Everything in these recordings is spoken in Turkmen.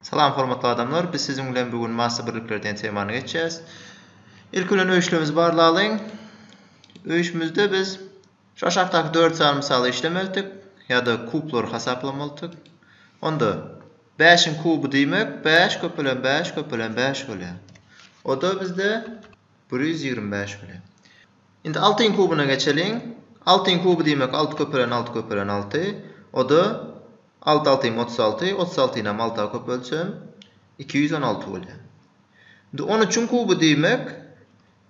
Salam hormatly adamlar biz siziň bilen bu gün massy birlikler diýen temany geçýäs. Ilki bilen öýüşlerimizi barlalyň. Öýüşimizde biz şu aşakdaky dört sany mysaly işlemelidik ýa-da kublary hasaplamalydyk. Onda bäşiň kuby diýmek bäş köpelen bäş köpelen bäş bolýar. Oda bizde bir ýüz ýigrimi bäş bolýar. Indi altyň kubyna geçeliň. Altyň kuby diýmek alty köpelen alty köpelen alty. Oda Alty altyň otuz alty, otuz altyny hem alta köpeltsem, iki ýüz on alty bolýar. Indi on üçiň kuby diýmek,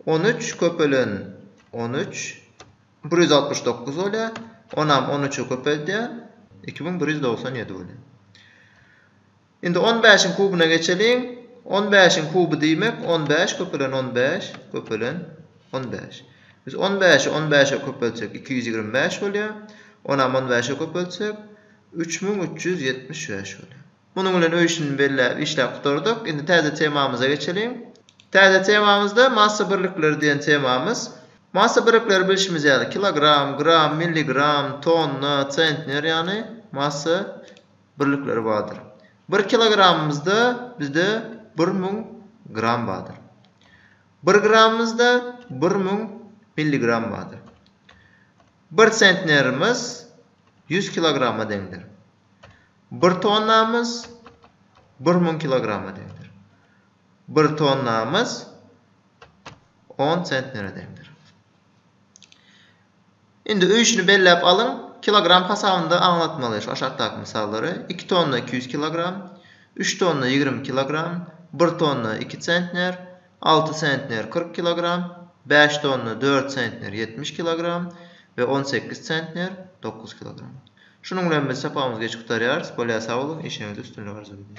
on üç köpelen on üç, bir ýüz altmyş dokuz bolýar. Onam on üçe köpeldýän, iki müň bir ýüz dogsan ýedi bolýar. Indi on bäşiň kubyna geçeliň. On bäşiň kuby diýmek on bäş köpelen on bäş köpelen on bäş. Biz on bäşi on bäşe köpeltsek iki ýüz ýigrimi bäş bolýar. Onam on bäşe köpeltsek üç müň üç ýüz ýetmiş bäş bolýar. Munuň bilen öýşini belläp işläp gutardyk. Indi täze temamyza geçeliň. Täze temamyzda massa birlikleri diýen temamyz. Massa birlikleri bilşimiz ýaly kilogram, gram, milligram, tonna, tsentner ýagny massa. birlikleri bardyr. Bir kilogramymyzda bizde bir müň gram bardyr. Bir gramymyzda bir müň milligram bardyr. Bir sentnerimiz ýüz kilograma deňdir. Bir tonnamyz bir müň kilograma deňdir. Bir tonnamyz on sentnere deňdir. Indi öýşüni belläp alyň, kilogram hasabynda aňlatmaly şu aşakdaky mysallary, iki tonna iki ýüz kilogram, üç tonna ýigrimi kilogram, bir tonna iki sentner, alty sentner kyrk kilogram, bäş tonna dört sentner ýetmiş kilogram we on sekiz sentner dokuz kilogram. Şunuň bilen biz sapagymyzy geç gutarýarys. Bolýa sag boluň, işiňizde üstünlik arzuw edýän.